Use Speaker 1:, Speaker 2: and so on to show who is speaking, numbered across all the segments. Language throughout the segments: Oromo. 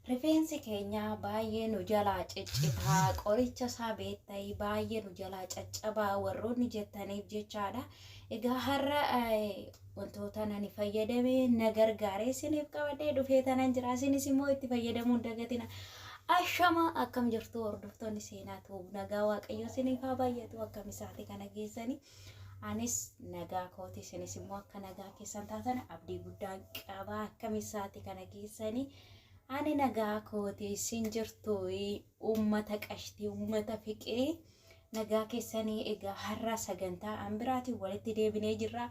Speaker 1: Rifeensi keenya baay'ee nu jalaa ciccitaa qoricha isaa beektai baay'ee nu jalaa caccabaa warroonni jettaniif jechaadha. Egaa har'a Wantootan ani fayyadame na gargaare isiniif qabadhee dhufee tanan jira. Isinis immoo itti fayyadamuun dagatina. Ashama akkam jirtu hordoftoonni seenaa tuub nagaa waaqayyoo isiniif haa baay'atu akkam isaati kana geessani. Anis nagaa kooti isinis immoo akka nagaa keessan taatan abdii guddaan qaba akkam isaati kana geessani. Ani nagaa kooti isin jirtu. Uummata qashtii uummata fiqee nagaa keessanii egaa har'a sagantaa an biraatiin walitti deebinee jirra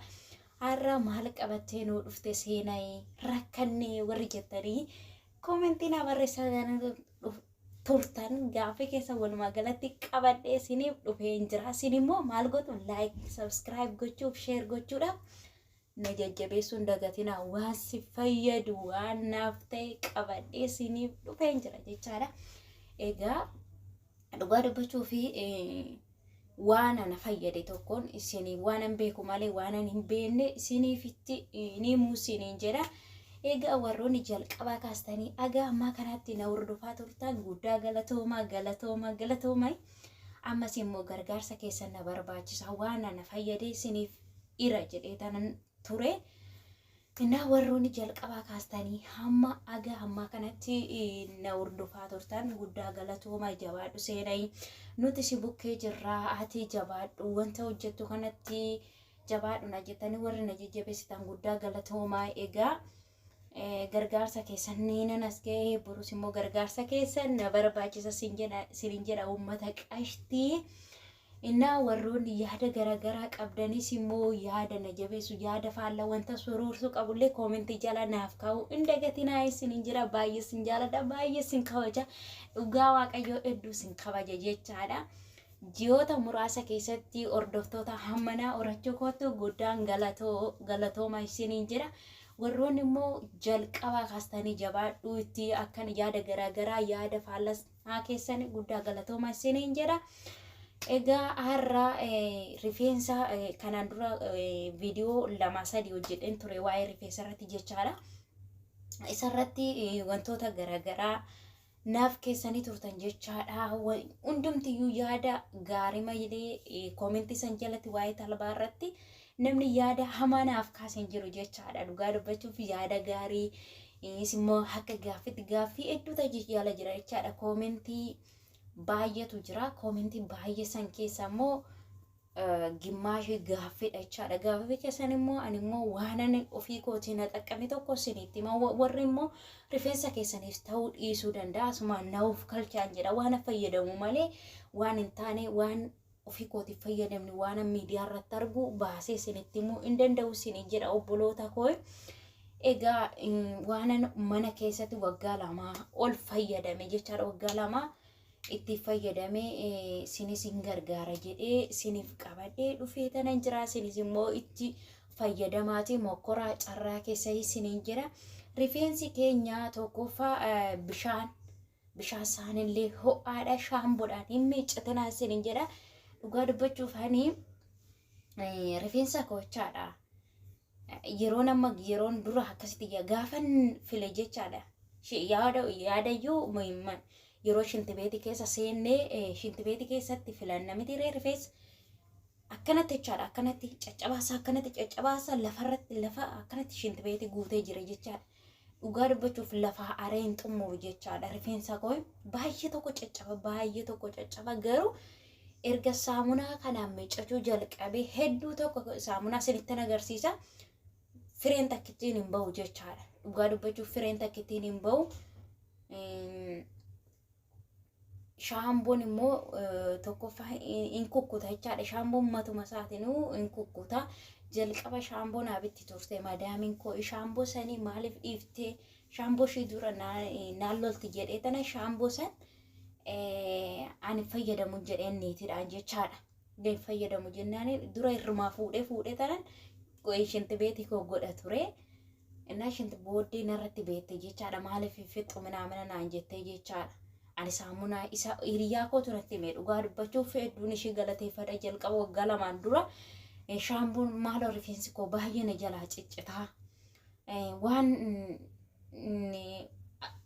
Speaker 1: har'a maal qabattee nuu dhufte seenayi rakkannee warri jettanii koomentii naa barreessaa gaana dhuf- turtan gaaffii keessa walumaa galatti qabadhee isiniif dhufeen jira isin immoo maal gootu laayik sabskiraayib gochuuf sheer gochuudhaaf na jajjabeessuun dagatina waan si fayyadu waan naaf ta'e qabadhee siniif dhufeen jira jechaadha. Egaa dhugaa dubbachuu fi waan ana fayyade tokkoon isin waan an beeku malee waan an hin beekne isiniifitti ni muusiniin jedha. Egaa warroonni jalqabaa kaastanii agaa ammaa kanaatti na hordofaa turtan guddaa galatoomaa galatoomaa galatoomaa ammas immoo gargaarsa keessan na barbaachisa waan ana fayyadee isiniif ira jedhee tanan ture. Innaa warroonni jalqabaa kaastanii hamma aga hammaa kanatti na hordofaa turtan guddaa galatooma jabaadhu seenayi nuti si bukkee jirraa ati jabaadhu wanta hojjettu kanatti jabaadhu na jettanii warri na jajjabeessitan guddaa galatooma egaa. gargaarsa keessan ni nan as ga'e borus immoo gargaarsa keessan na barbaachisa sin jedha sinin jedha uummata qashtii innaa warroonni yaada garaagaraa qabdanis immoo yaada na jabeessu yaada faalla wanta suruursu qabullee koomentii jala naaf kaa'u hin dagatinaa isinin jira baay'ee sin jaaladha baay'ee sin kabaja dhugaa waaqayyoo hedduu sin kabaja jechaadha. Ji'oota muraasa keessatti hordoftoota hammanaa horachuu kootu guddaan galatooma isiniin jedha. Warroonni immoo jalqabaa kaastanii jabaadhuu itti akkan yaada garaagaraa yaada faallasnaa keessan guddaa galatooma isiniin jedha. Egaa har'a rifeensa kanaan dura viidiyoo lama sadii hojjedheen ture waa'ee rifeensa irratti jechaadha. Isarratti wantoota garaagaraa naaf keessanii turtan jechaadha. Hundumtiyyuu yaada gaarii malee koomentii san jalatti waa'ee talbaa irratti namni yaada hamaa naaf kaase hin jiru jechaadha. Dhugaa dubbachuuf yaada gaarii immoo akka gaaffitti gaaffii hedduu taji jala jira jechaadha. Koomentii baay'eetu jira. Koomentii baay'ee san keessa immoo gimmaashii gaaffidha jechaadha. Gaaffii keessan immoo ani immoo waanan ofii kootii na xaqqame tokko isinitti hima. Warri immoo rifeensa keessaniif ta'uu dhiisuu danda'a. Asumaan na of kalchaan jedha. Waan fayyadamu malee waan hin taane waan ofii kootiif fayyadamne waan miidiyaa irratti argu baasee isinitti himuu hin danda'u isiniin jedha obboloota koo. Egaa waanan mana keessatti waggaa lamaa ol fayyadame jechaadha. Waggaa lamaa itti fayyadame sinis hin gargaara jedhee siniif qabadhee dhufee tanan jira sinis immoo itti fayyadamaati mokkoraa carraa keessa isiniin jira rifeensi keenya tokkoffaa bishaan bishaan isaanillee ho'aadha shaamboodhaan hin miiccatinaa isiniin jedha dhugaa dubbachuuf hani rifeensa koochaadha. yeroon amma yeroon dura akkasitti yaa- gaafan file jechaadha. Shi- Yaada yaadayyuu muhimman yeroo shintibeetii keessa seennee eh, shintibeetii keessatti filanna miti ree rifeensa akkanatti jechaadha akkanatti caccabaasa akkanatti caccabaasa lafarratti lafa akkanatti shintibeetii guutee jira jechaadha. dhugaa dubbachuuf lafaa aree hin xumuru jechaadha rifeensa koo baay'ee tokko caccaba baay'ee tokko caccaba garuu erga saamunaa kanaan miiccachuu jalqabee hedduu tokko saamunaa isinittan agarsiisa fireen takkittiin hin ba'u jechaadha dhugaa dubbachuuf fireen takkittiin hin ba'u. Eem, shaamboon immoo tokkoffaa hin kukkuta jechaadha. Shaamboon matuma isaatinuu hin kukkuta. Jalqaba shaamboon abitti turte madaamiin koo shaamboo sanii maaliif dhiiftee shaamboo ishii dura naan lolti jedhee tana shaamboo san ani fayyadamu jedheen niitidhaan jechaadha. Gadi fayyadamu jennaan dura irrumaa fuudhee fuudhee tanan shinti beetii koo godha ture. Innaa shanti booddee narratti beette jechaadha maaliif hin fixxu minaamina naan jettee jechaadha. Ani saamunaa isa hiriyaa kootu natti hime dhugaa dubbachuuf hedduun ishee galateeffadha jalqaba waggaa lamaan dura shaambuun maaloo rifeensi koo baay'ee na jalaa ciccitaa waan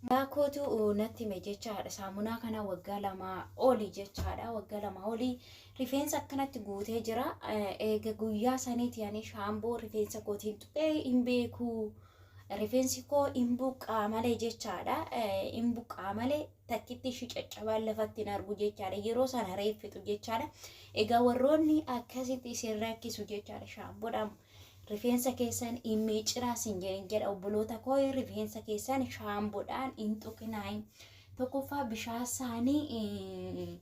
Speaker 1: Yaa kootu natti hime jechaadha saamunaa kana waggaa lamaa oli jechaadha waggaa lamaa oli Rifeensi akkanatti guutee jira. Eega guyyaa saniiti ani shaamboo rifeensa kootiin tuqee hin beeku. Rifeensi koo hin buqqaa malee jechaadha. Hin buqqaa malee takkitti ishii caccabaan lafatti hin argu jechaadha. Yeroo sana reeffitu jechaadha. Egaa warroonni akkasitti isin rakkisu jechaadha shaamboodhaan rifeensa keessan hin miiccinaa sin jedhin jedha obboloota koo rifeensa keessan shaamboodhaan hin tuqinaa. Tokkoffaa bishaan saanii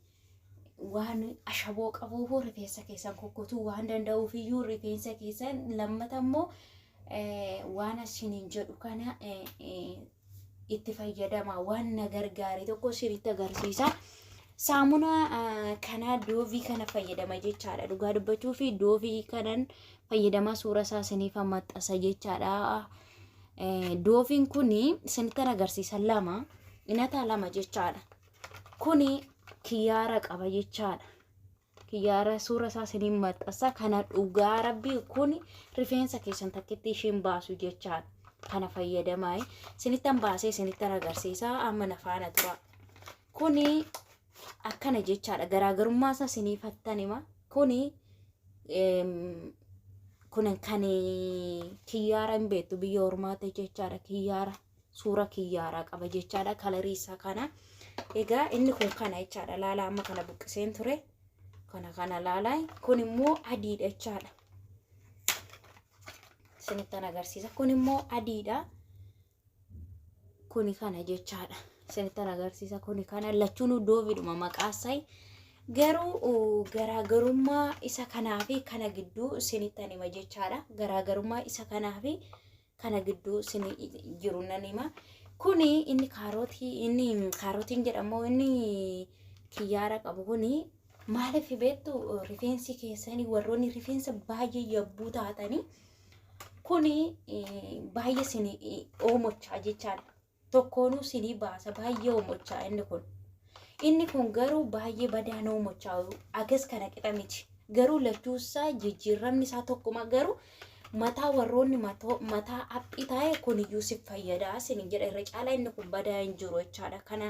Speaker 1: waan ashaboo qabuufuu rifeensa keessan kukkutuu waan danda'uufiyyuu rifeensa keessan lammata immoo waan asiniin jedhu kana itti fayyadama waan na gargaare tokko isinitti agarsiisa. Saamunaa kana doovii kana fayyadama jechaadha dhugaa dubbachuu fi doovii kanan fayyadama suura isaa isiniif maxxansa jechaadha. Dooviin kun isinittan agarsiisa lama inataa lama jechaadha. Kuni kiyyaara qaba jechaadha. Kiyyaara suura isaa siniin maxxansa kana dhugaa rabbii kuni rifeensa keessan takkitti ishiin baasu jechaadha. Kana fayyadamaa sinittan baasee sinittan agarsiisa amma na faana tura. Kuni akkana jechaadha garaagarummaa isaa sinii fattan hima. Kuni kun kan kiyyaara hin beektu biyya ormaatti jechaadha kiyyaara. suura kiyyaara qaba jechaadha kalarii isaa kana egaa inni kun kana jechaadha laalaa amma kana buqqiseen ture kana kana laalaa kun immoo adiidha jechaadha isinittan agarsiisa kun immoo adiidha kuni kana jechaadha isinittan agarsiisa kuni kana lachuun doovidhuma maqaasai garuu garaagarummaa isa kanaa fi kana gidduu isinittan hima jechaadha garaagarummaa isa kanaa fi kana gidduu sin jiru nan hima. Kuni inni kaarootii inni kaarootiin jedhamu inni kiyyaara qabu kuni maaliif beektu rifeensi keessanii warroonni rifeensa baay'ee yabbuu taatanii kuni eh, baay'ee sin oomochaa jechaadha. tokkoonuu sinii baasa baay'ee oomochaa inni kun inni kun garuu baay'ee badaa na oomochaa agas kana qixa miti garuu lachuu isaa jijjiirramni isaa tokkuma garuu mataa warroonni matoo- mataa aphii taa'e kun iyyuu si fayyadaa sinin jedha irra caalaa inni kun badaa hin jiru jechaadha kana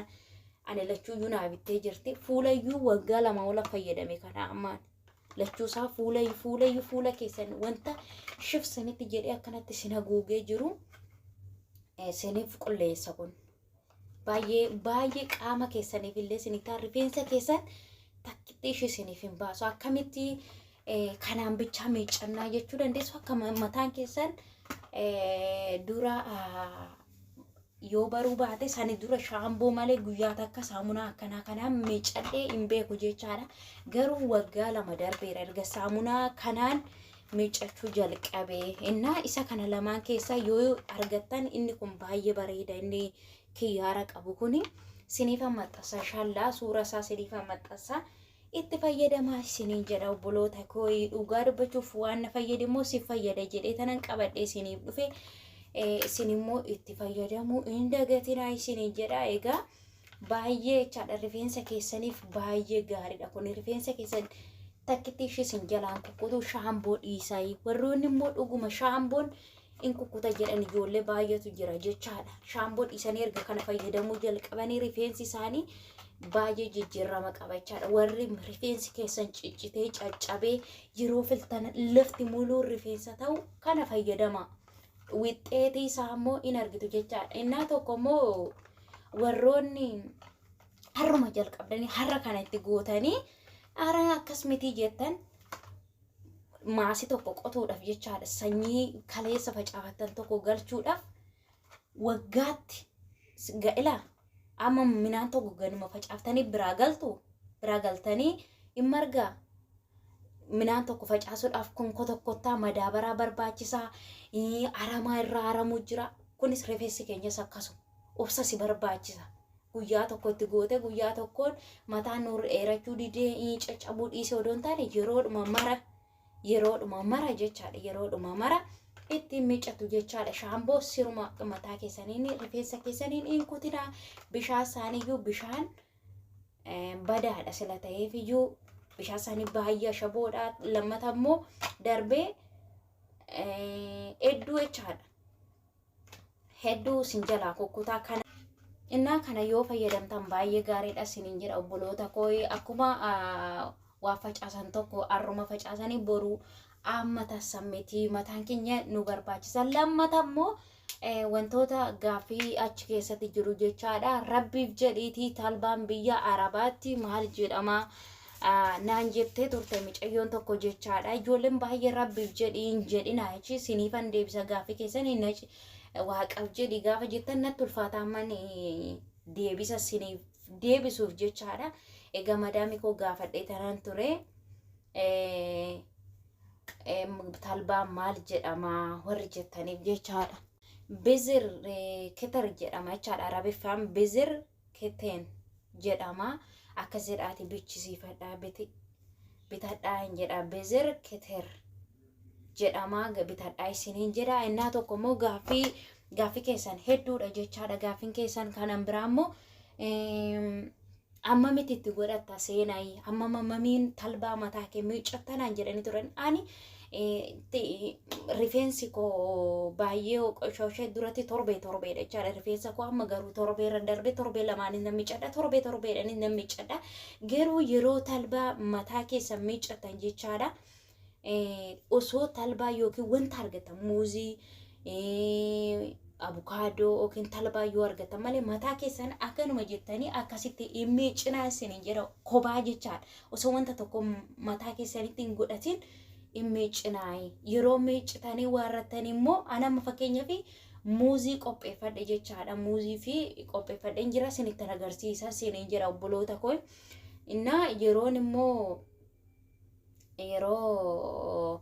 Speaker 1: ani lachuu iyyuu naa bittee jirti fuula iyyuu waggaa lama ola fayyadame kana ammaan lachuusaa fuula fuulayyu fuula keessan wanta shif sanitti jedhee akkanatti sin haguugee jiru eh, siniif qulleessa kun baay'ee baay'ee qaama keessaniif illee sinitaa rifeensa keessan takkitti ishii siniif hin baasu akkamitti eh, kanaan bichaa miiccannaa jechuu dandeessu akka ma- mataan keessan eh, dura ah, Yoo baruu baate sani dura shaamboo malee guyyaa takka saamunaa akkanaa kanaan miicadhee hin beeku jechaadha. Garuu waggaa lama darbeera erga saamunaa kanaan miiccachuu jalqabe. Innaa isa kana lamaan keessaa yoo argattan inni kun baay'ee bareeda inni kiyyaara qabu kuni siniifan maxxansa inshaallah suura isaa siniifan maxxansa. itti fayyadamaa isiniin jedha obboloota koo dhugaa dubbachuuf waan na fayyade immoo si fayyada jedhee tanan qabadhe isiniif dhufe isin immoo itti fayyadamuu hin dagatinaa isiniin jedha egaa baay'ee jechaadha rifeensa keessaniif baay'ee gaariidha kun rifeensa keessan takkitti ishii isin jalaan kukkutu shaamboo dhiisaa warroonni immoo dhuguma shaamboon in kukkuta jedhan ijoollee baay'eetu jira jechaadha. Shaamboo dhiisanii erga kana fayyadamuu jalqabanii rifeensi isaanii baay'ee jijjiirama qaba jechaadha. Warri rifeensi keessan ciccitee caccabee yeroo filtan lafti muluun rifeensa ta'u kana fayyadama. Wixxeetii isaa immoo in argitu jechaadha. Innaa tokko immoo warroonni harruma jalqabdanii harra kana itti gootanii ara akkas mitii jettan maasi tokko qotuudhaaf jechaadha sanyii kaleessa facaafattan tokko galchuudhaaf waggaatti ga'ila amma minaan tokko ganuma facaaftanii biraa galtu biraa galtanii in margaa minaan tokko facaasuudhaaf konko tokkottaa madaabaraa barbaachisaa aramaa irraa aramuu jira kunis rifeensi keenyas akkasuma obsa si barbaachisa guyyaa tokkotti goote guyyaa tokkoon mataan nu dheerachuu didee ii caccabuu dhiisee odoo hin taane yeroodhuma mara yeroodhuma mara jechaadha yeroodhuma mara ittiin miiccatu jechaadha shaamboo siruma mataa keessaniin rifeensa keessaniin in kutina bishaan isaaniiyyuu bishaan eh, badaadha sila ta'eefiyyuu bishaan isaanii baay'ee shaboodha lammata immoo darbee eh, hedduu jechaadha hedduu isin jalaa kukkutaa kana innaa kana yoo fayyadamtan baay'ee gaariidha isiniin jedha obboloota koo akkuma waa facaasan tokko arruma facaasanii boruu amma tassan miti mataan keenya nu barbaachisa lammata immoo wantoota gaaffii achi keessatti jiru jechaadha rabbiif jedhiitii talbaan biyya arabaatti maal jedhama naan jettee turte micayyoon tokko jechaadha. Ijoolleen baay'ee rabbiif jedhi hin jedhina jechi siniifan deebisa gaaffii keessan hin waaqaaf jedhi gaafa jettan natti ulfaataa amman deebisa siniif deebisuuf jechaadha. Egaa madaami koo gaafadhee tanan ture. Talbaa maal jedhama warri jettaniif jechaadha. Bizir ketar jedhama jechaadha. Arabiffaan bizir keten jedhama akka jedhaati bichisiifadhaa biti bitadhaa hin jedha bezer keter jedhama bitadhaa isiniin jedha innaa tokko immoo gaaffii gaaffii keessan hedduudha jechaadha gaaffiin keessan kanan biraa immoo amma miti itti godhatta seenayi amma mamiin talbaa mataa kee miiccattanaan jedhanii turan ani rifeensi koo baay'ee qoshooshee duratti torbee torbeedha jechaadha rifeensa koo amma garuu torbee irra darbee torbee lamaanis nan miccadha torbee torbeedhanis nan miccadha garuu yeroo talbaa mataa keessa miccatan jechaadha osoo talbaa yookiin wanta argatan muuzii abukaadoo yookiin talbaa yoo argatan malee mataa keessan akkanuma jettanii akkasitti hin miicinaa isin hin jedha kophaa jechaadha osoo wanta tokko mataa keessanitti hin godhatin hin miiccinaa'e. Yeroo miiccitanii waarrattan immoo an amma fakkeenyaaf muuzii qopheeffadhe jechaadha. Muuzii fi qopheeffadheen jira sinittan agarsiisa siniin jira obboloota koo. Innaa yeroon immoo yeroo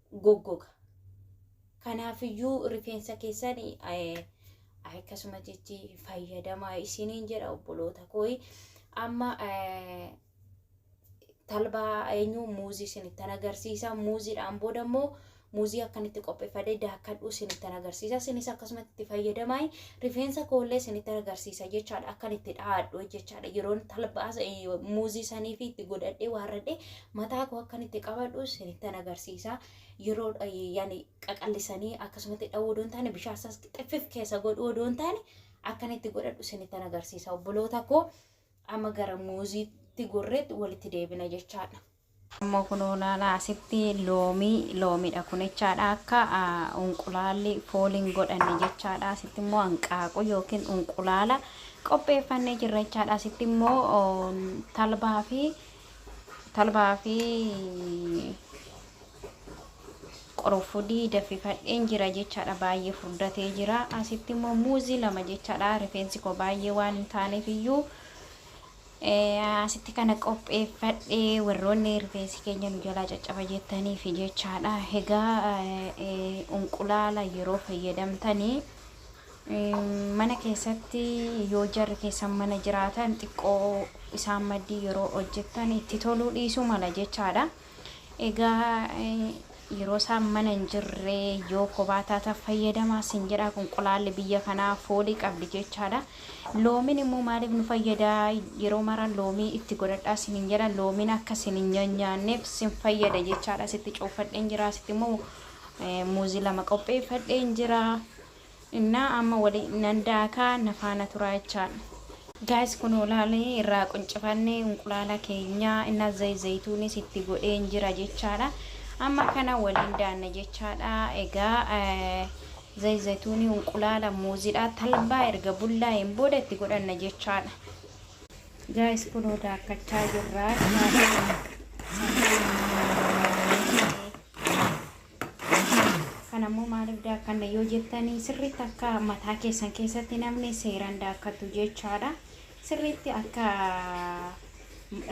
Speaker 1: goggoga. Kanaafiyyuu rifeensa keessan akkasuma jechi fayyadamaa isiniin jedha obboloota kooyi. Amma talbaa eenyu muuzii isinittan agarsiisa. Muuziidhaan booda immoo muuzii akkanitti qopheeffadee daakkadhu isinittan agarsiisa. Isinis akkasumatti itti fayyadamaa rifeensa koollee isinittan agarsiisa jechaadha. Akkan itti dhaadhu jechaadha. Yeroon talbaa muuzii sanii fi itti godhadhee waarradhee mataa koo akkan itti qabadhu isinittan agarsiisa yeroo yani qaqallisanii akkasumatti dha'uu odoo hin taane bishaan isaas xiffif keessa godhuu odoo hin taane akkan itti godhadhu isinittan agarsiisa obboloota koo amma gara muuziitti gorreetti walitti deebina jechaadha. Amma kunoo naala asitti loomii loomiidha kun jechaadha akka unqulaalli fooliin godhanne jechaadha asitti immoo hanqaaquu yookiin unqulaala qopheeffannee jirra jechaadha asitti immoo talbaa fi Talbaa fi qorofudii daffifadheen jira jechaadha baay'ee furdatee jira asitti immoo muuzii lama jechaadha rifeensi koo baay'ee waan hin taaneef iyyuu asitti kana qopheeffadhee warroonni rifeensi keenya nu jalaa caccaba jettaniif jechaadha egaa unqulaala yeroo fayyadamtanii Mana keessatti yoo jarri keessan mana jiraatan xiqqoo isaan maddii yeroo hojjettan itti toluu dhiisuu mala jechaadha. Egaa yeroo isaan mana hin jirre yoo kophaa taatan fayyadamaa sin jedha qunqulaalli biyya kanaa foolii qabdi jechaadha. Loomiin immoo maaliif nu fayyada yeroo mara loomii itti godhadhaa sin hin jedha loomiin akka sin hin nyaanyaanneef sin fayyada jechaadha sitti cuuffadheen jira sitti immoo muuzii lama qopheeffadheen jira. Innaa amma wali nan daakaa na faana turaa jechaadha. Guys kunoo laali irraa quncifanne unqulaala keenya innaa zayit zayituunis itti godheen jira jechaadha. Amma kana waliin daanna jechaadha. Egaa zayit zayituunii unqulaala muuzidha talbaa erga bullaa'een booda itti godhanna jechaadha. Guys kunoo daakkachaa jirra. Kana immoo maaliif daakkanna yoo jettan sirriitti akka mataa keessan keessatti namni seeran daakkatu jechaadha. Sirriitti akka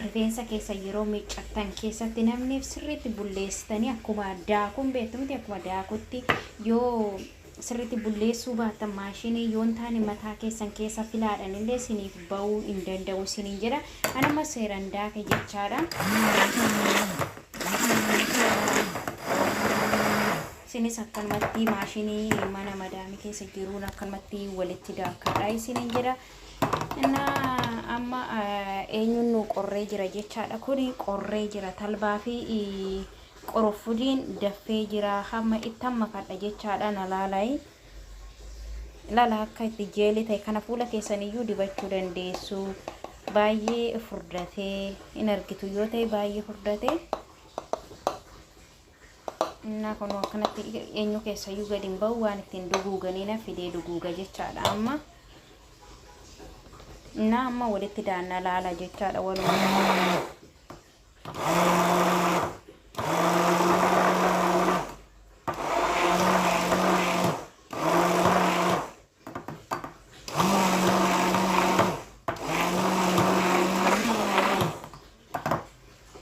Speaker 1: rifeensa keessa yeroo miiccattan keessatti namni sirriitti bulleessitanii akkuma daakuun beektu miti akkuma daakutti yoo sirriitti bulleessuu baattan maashinii yoo hin taane mataa keessan keessa filaadhaan illee siniif ba'uu hin danda'u isiniin jedha. An amma seeran daake jechaadha. Isinis akkanumatti maashinii mana madaamii keessa jiruun akkanumatti walitti daakadha isiniin jedha. Innaa amma eh, eenyuun nu qorree jira jechaadha. Kuni qorree jira talbaa fi eh, Qurunfudiin daffee jira hamma ittan makadha jechaadha na laalai ilala akka itti jeelii ta'e kana fuula keessan iyyuu dibachuu dandeessu baay'ee furdatee in argitu yoo ta'e baay'ee furdatee innaa kun akkanatti eenyu keessa iyyuu gadi hin ba'u waan ittiin duguuganii na fidee duguuga jechaadha amma innaa amma walitti daanna laala jechaadha walumaa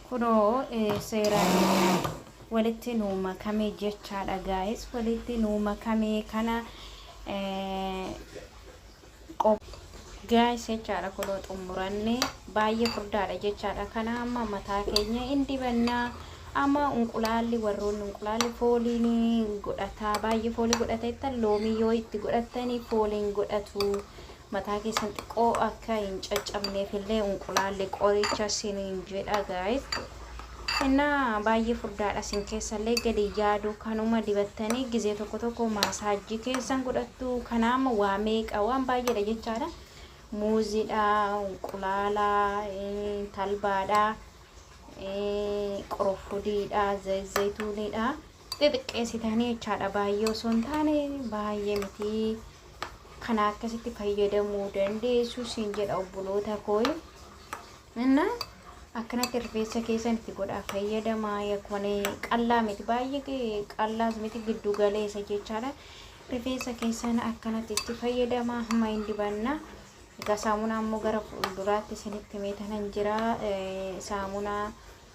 Speaker 1: kunoo eh, seeraan walitti nuu makame jechaadha gaa'is walitti nuu makame kana eh, qop. Guys jechaadha kunoo xummuranne baay'ee furdaadha jechaadha kana amma mataa keenya in dibanna amma unqulaalli warroonni unqulaalli fooliin godhata baay'ee foolii godhata jettan loomii yoo itti godhattani fooliin godhatu mataa keessan xiqqoo akka hin caccabneef illee unqulaalli qoricha siniin jedha guys Kennaa baay'ee furdaadha isin keessallee gadi yaadu kanuma dibattanii gizee tokko tokko maasaajjii keessan godhattu kanaama waa meeqa waan baay'eedha jechaadha muuziidha qulaala talbaadha qorofudiidha zayituuniidha xixiqqeessitanii jechaadha baay'ee osoo hin taane baay'ee miti kana akkasitti fayyadamuu dandeessu siin jedha obboloota kooyi. Inna akkanatti rifeensa keessan itti godhaa fayyadamaa yakone qallaa miti baay'ee qallaas miti giddu galeessa jechaadha rifeensa keessan akkanatti itti fayyadamaa hamma hin dibanna egaa saamunaa ammoo gara fuulduraatti isinitti meetanan jira saamunaa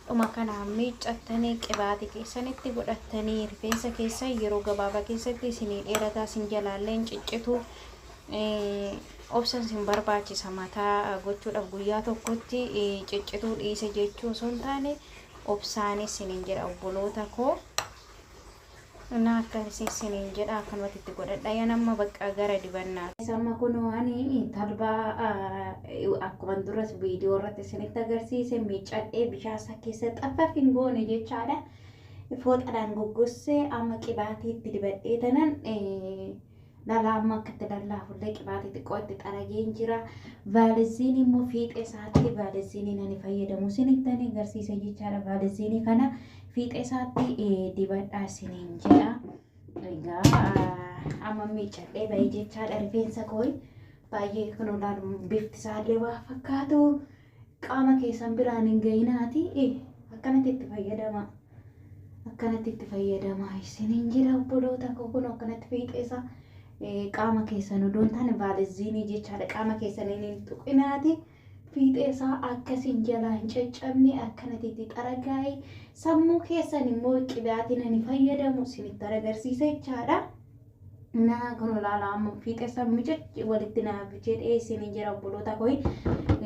Speaker 1: Dhuma kanaan miiccattanii qibaati keessan itti godhattanii rifeensa keessan yeroo gabaabaa keessatti isinii dheerataa sin jalaallee hin ciccitu obsan sin barbaachisa mataa gochuudhaaf guyyaa tokkotti ciccituu dhiise jechuu osoo hin taane obsaanis sinin jedha obboloota koo. Naa akkan isiniin jedha akkanumatti itti godhadha yan amma bakka gara dibannaa. Amma kun ani talbaa akkuma duras viidiyoo irratti isinitti agarsiise miiccadhee bishaan isaa keessa xaffaf hin goone jechaadha. Fooxadhaan goggossee amma qibaatii itti dibadhee tanan Dhalaa amma akka itti lallaafullee qibaatii xiqqoo itti xarageen jira. Vaaliziinii immoo fiixee isaatti vaaliziinii nani fayyadamu isinitti ani agarsiisa jechaadha. Vaaliziinii kana fiixee isaatti eh, dibadhaa isiniin jedha. Egaa ah, amma miiccadhee bahee jechaadha rifeensa kooyi. Baay'ee kunoo laalu bifti isaallee waa fakkaatu. Qaama keessan biraan hin ga'inaati i akkanatti itti fayyadamaa. Akkanatti itti fayyadamaa isiniin jedha obboloota koo kun akkanatti fiixeessa eh, qaama keessan odoo hin taane vaaliziinii jechaadha qaama keessaniin hin tuqinaati. Fiixeessaa akkasiin jalaa hin caccabne akkanatti itti xaragaa'e sammuu keessan immoo qibaatiin ani fayyadamu isinitti agarsiisa jechaadha. Naa kun ilaala amma fiixessa micacci walitti naa jedhee isin jira obboloota koi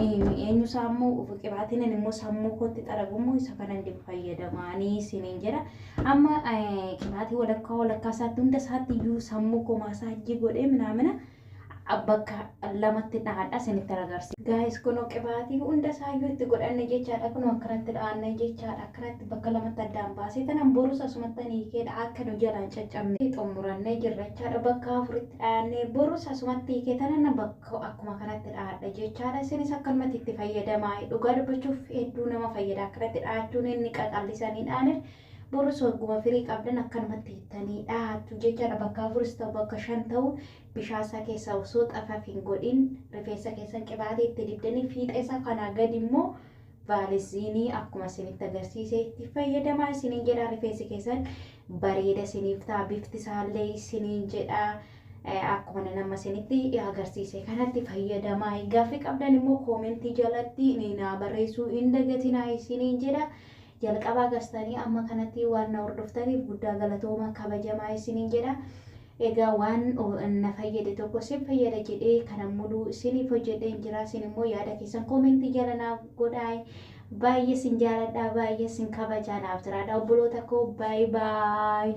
Speaker 1: eenyu sammuu qibaatiin immoo sammuu kootti xaragummoo isa kanan dibu fayyadamaanii isin jira amma qibaatii walakkaa walakkaa isaatti hunda isaatti iyyuu sammuu koo maasaajjii godhee minaamina bakka lamatti dhaadha isinitti agarsiisa. Gaayis kunoo qibaatii hunda isaayyuu itti godhanne jechaadha. Kunoo akkanatti dhaanne jechaadha. Akkanatti bakka lamatti addaan baasee tanan borus asumatti hiikeedha akka nu jalaan caccabne xumurannee jirra jechaadha. Bakka afuritti dhaanne borus asumatti hiikee tanan bakka akkuma kanatti dhaadha jechaadha. Isinis akkanumatti itti fayyadamaa. Dhugaa dubbachuuf hedduu nama fayyada akkanatti dhaachuun inni qaqallisanii dhaanir Borus wagguma firii qabdan akkanumatti hittanii dhahattu jechaadha. Bakka afuris ta'u bakka shan ta'u bishaan isaa keessaa osoo xafaf hin godhin rifeensa keessan qibaatii itti dibdanii fiixee isaa kanaa gadi immoo vaaliziinii akkuma isinitti agarsiise itti fayyadamaa isiniin jedha rifeensi keessan bareeda isiniif ta'a bifti isaallee isiniin jedha. akkuma nan amma isinitti agarsiise kanatti fayyadamaa gaaffii qabdan immoo koomentii jalatti naa barreessuu hin dagatinaa isiniin jedha Jalqabaa kastanii amma kanatti waan na hordoftaniif guddaa galatoomaa kabajamaa isiniin jedha. Egaa waan na fayyade tokko sin fayyada jedhee kanan muluu isiniif hojjedheen jira. Isin immoo yaada keessan koomentii jala naaf godhaa. Baay'ee sin jaaladha, baay'ee sin kabajaa naaf jiraadha obboloota koo. Baay baay.